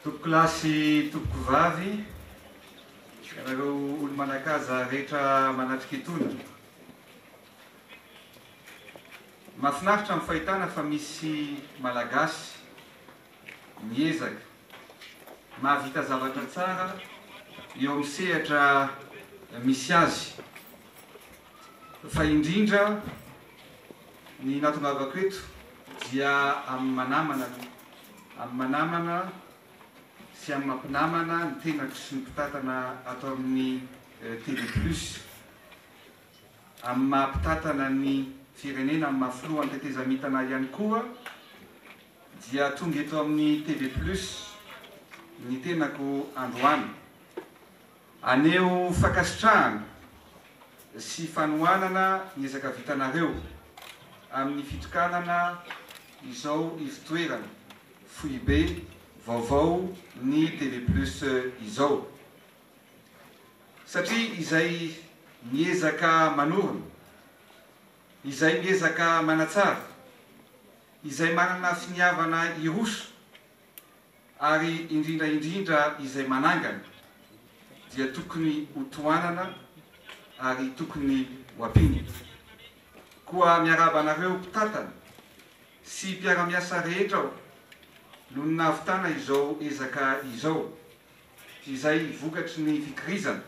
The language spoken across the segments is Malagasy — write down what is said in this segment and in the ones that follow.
Tompokolahy sy tompokovavy, ianareo olo-manakaza rehetra manatrika itony. Mahafinaritra ny fahitana fa misy Malagasy. miezaka mahavita zavatra tsara eo amin'ny sehatra misy azy. Fa indrindra ny natongavako eto dia amin'ny manamana aloha, amin'ny manamana sy amin'ny mampinamana ny tenako sy ny mpitantana ato amin'ny TV Plus, amin'ny maha-mpitantana ny firenena, amin'ny maha-filohan'ny tetezamita-na ihany koa. Dia tonga eto amin'ny TV Plus ny tenako androany. Aneho fankasitrahana sy fanohanana ny ezaka vitanareo amin'ny fitokanana izao ivotoerana foibe vaovao ny TV Plus izao. Satria izay miezaka manorina. Izay miezaka manatsara, izay manana finiavana hiroso, ary indrindra indrindra izay manangana, dia tokony ho tohanana ary tokony ho ampiana. Koa miarahaba anareo mpitantana sy mpiara-miasa rehetra aho noho ny nahavitana izao ezaka izao, izay vokatry ny fikirizana,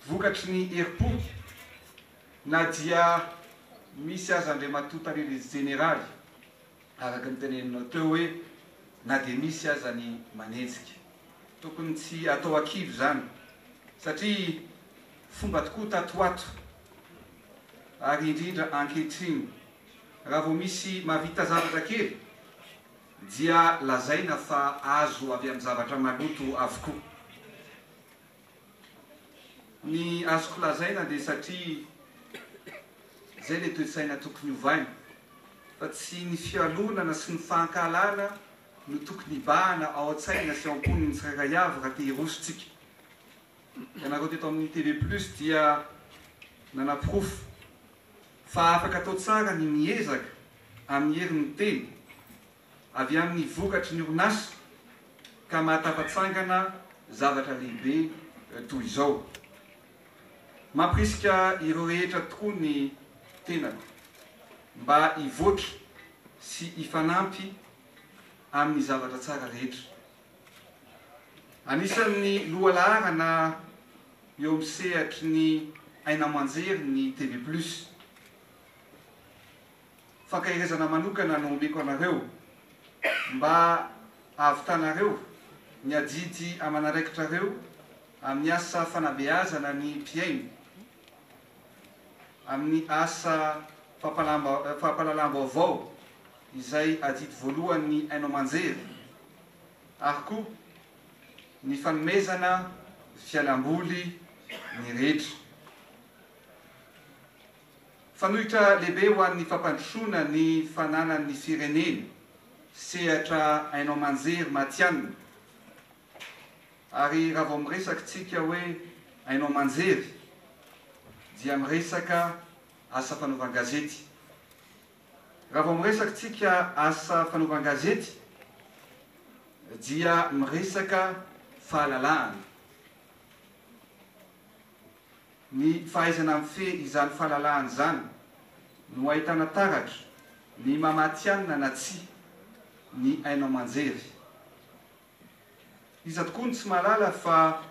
vokatry ny herim-po, Na dia misy aza Andriamatoa Tarindrijo Jeneraly, araka ny teneninao teo hoe na dia misy aza ny manenjika. Tokony tsy atao an-kivy izany satria fomba tokoa tato ho ato ary indrindra ankehitriny raha vao misy mahavita zavatra kely dia lazaina fa azo avy amin'ny zavatra maloto avokoa. Ny azoko lazaina dia satria izay ilay toe-tsaina tokony hovaina fa tsy ny fialonana sy ny fahankahalana no tokony hibahana ao an-tsaina sy ao am-pon'ny tsirairay avy raha te hiroso tsika. Ianareo teto amin'ny TV Plus dia nanaporofo fa afaka atao tsara ny miezaka amin'ny herin'ny teny. avy amin'ny vokatry ny orinasa ka mahatafatsangana zavatra lehibe toy izao. Mampirisika ireo rehetra tokoa ny tenako mba hivoatra sy hifanampy amin'ny zavatra tsara rehetra. Anisan'ny lohalaharana eo amin'ny sehatry ny aina aman-jery ny TV Plus. fankaherezana manokana no omeko anareo mba hahavitanareo ny adidy aman'araikitrareo amin'ny asa fanabeazana ny mpihaino amin'ny asa fampahalalam-baovao izay adidy voalohan'ny haino aman-jery ary koa ny fanomezana fialam-boly ny rehetra. Fanoitra lehibe ho an'ny fampandrosoana ny fananan'ny firenena, sehatra haino aman-jery matihanina. Ary raha vao miresaka isika hoe haino aman-jery dia miresaka asa fanaovan-gazety. Raha vao miresaka isika asa fanaovan-gazety dia miresaka fahalalahana. Ny fahaizana mifehy izany fahalalahana izany no ahitana taratra ny maha-matihanina na tsia ny haino aman-jery. Iza tokoa no tsy mahalala fa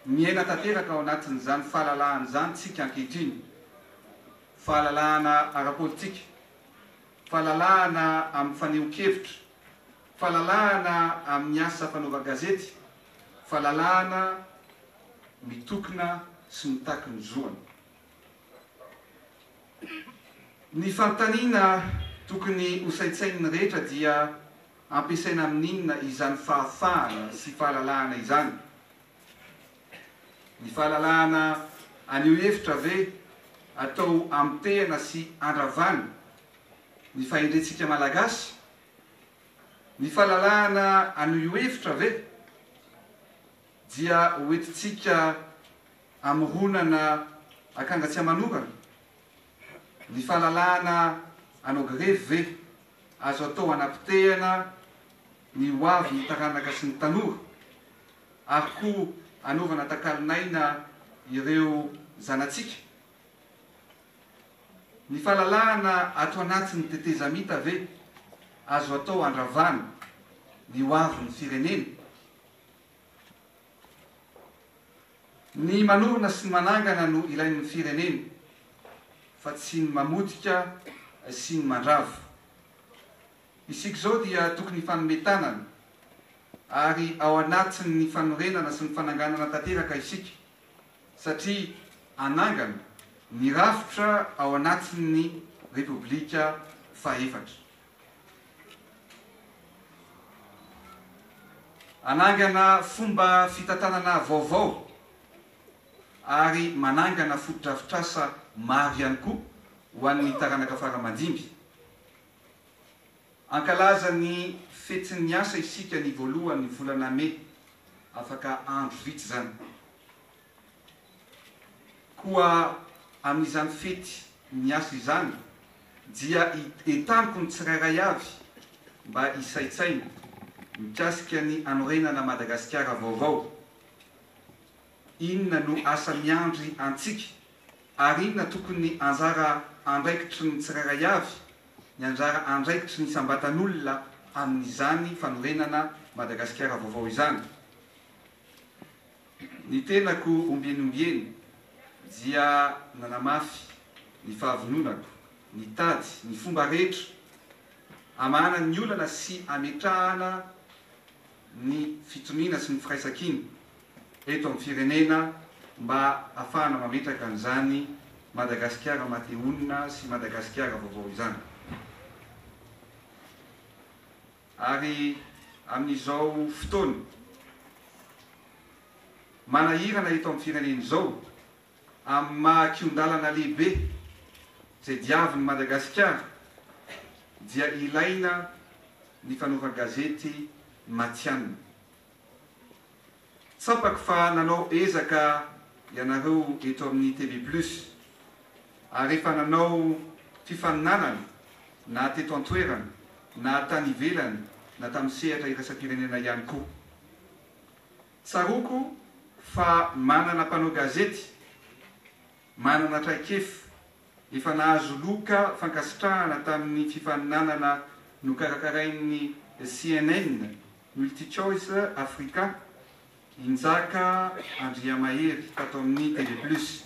miaina tanteraka ao anatin'izany fahalalahana izany tsika ankehitriny, fahalalahana ara-politika, fahalalahana amin'ny fanehoan-kevitra, fahalalahana amin'ny asa fanaovan-gazety, fa lalàna mitokona sy mitaky ny zoany. Ny fanontaniana tokony hosaintsain'ny rehetra dia ampiasaina amin'inona izany fahafahana sy fahalalahana izany? Ny fahalalahana anio hevitra ve atao amotehana sy andravana ny fahendrentsika Malagasy? Ny fahalalahana an'io io hevitra ve dia ho entintsika amoronana akanga tsy aman'orana? Ny fahalalahana anao grevy ve azo atao hanapotehana ny ho avin'ny taranaka sy ny tanora, ary koa hanaovana takalon'aina ireo zanatsika? Ny fahalalahana ato anatin'ny tetezamita ve azo atao handravana ny hoavin'ny firenena? Ny manorina sy ny manangana no ilain'ny firenena fa tsy ny mamotika sy ny mandrava. Isika izao dia tokony hifanome tanana ary ao anatin'ny fanorenana sy ny fananganana tanteraka isika. satria hanangana ny rafitra ao anatin'ny Repoblika fahefatra. Hanangana fomba fitantanana vaovao ary manangana fotodrafitrasa maro ihany koa ho an'ny taranaka fara aman-dimby. Hankalaza ny Fetsin'ny Asa isika ny voalohan'ny volana Mey. Afaka andro vitsy izany. Koa amin'izany Fety ny Asa izany dia entaniko ny tsirairay avy mba hisaintsaina mikasika ny hanorenana Madagasikara vaovao. Inona no asa miandry antsika, ary inona tokony anjara andraikitry ny tsirairay avy? Ny anjara andraikitry ny isam-batan'olona amin'izany fanorenana Madagasikara vaovao izany. Ny tenako ombieny ombieny dia nanamafy ny fahavononako nitady ny fomba rehetra hamahana ny olana sy hametrahana ny fitoniana sy ny firaisankina eto amin'ny firenena mba afahana mametraka an'izany Madagasikara mahatehoana sy Madagasikara vaovao izany. Ary amin'izao fotoana manahirana eto amin'ny firenena izao amin'ny maha kion-dalana lehibe izay diavin'i Madagasikara dia ilaina ny fanaovan-gazety matihanina. Tsapako fa nanao ezaka ianareo eto amin'ny TV Plus ary efa nanao fifaninanana na teto an-toerana na tany ivelany na tamin'ny sehatra iraisam-pirenena ihany koa. Tsaroako fa manana mpanao gazety manana traikefa Efa nahazo loka fankasitrahana tamin'ny fifaninanana nokarakarain'ny cnn Multichoice Africa i Njaka Andriamahery tato amin'ny TV Plus.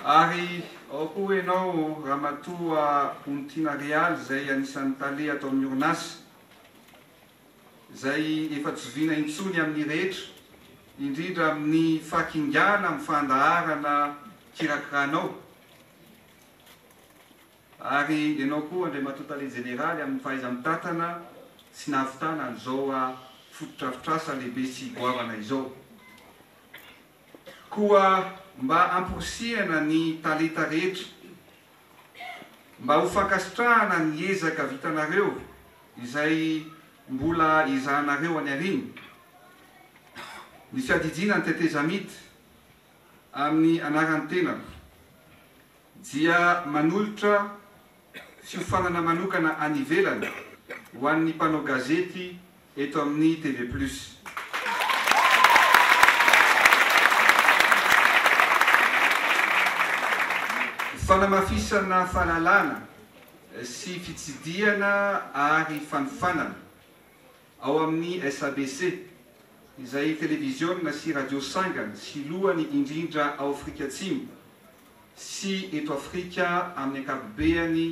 Ary ao koa ianao Ramatoa Ontina Real izay anisan'ny tale ato amin'ny orinasa. izay efa tsy zoviana intsony amin'ny rehetra, indrindra amin'ny fahakingana amin'ny fandaharana kirakiranao, ary ianao koa Andriamatoa Tale Jeneraly amin'ny fahaiza-mitantana sy nahavitana an'izao fotodrafitrasa lehibe sy goavana izao. Koa mba amporisihana ny talenta rehetra. Mba ho fankasitrahana ny ezaka vitanareo izay mbola ezahanareo any aoriana, ny fiadidiana ny tetezamita amin'ny anaran'ny tenako dia manolotra fiofanana manokana any ivelany ho an'ny mpanao gazety eto amin'ny TV Plus. Fanamafisana fahalalana sy fitsidihana ary fanofanana ao amin'ny SABC, izay televiziona sy radio sangany sy lohany indrindra ao Afrika Atsimo sy eto Afrika amin'ny ankapobeany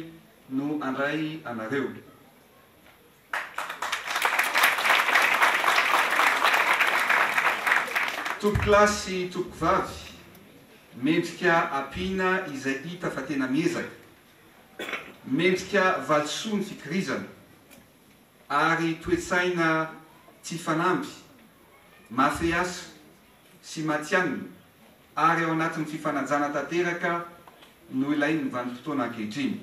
no andray anareo. Tompokolahy sy tompokovavy, mendrika ampiana izay hita fa tena miezaka, mendrika valisoa ny fikirizana, ary toe-tsaina tsy fanamby, mafy asa sy matihanina ary ao anatin'ny fifanajana tanteraka no ilain'ny vanim-potoana ankehitriny.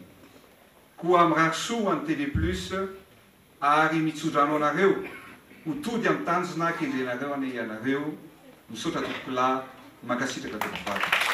Koa mirary soa ho an'ny TV Plus ary mitso-drano anareo ho tody amin'ny tanjona kendrenareo anie ianareo, misaotra tompokolahy, mankasitraka tompivavy.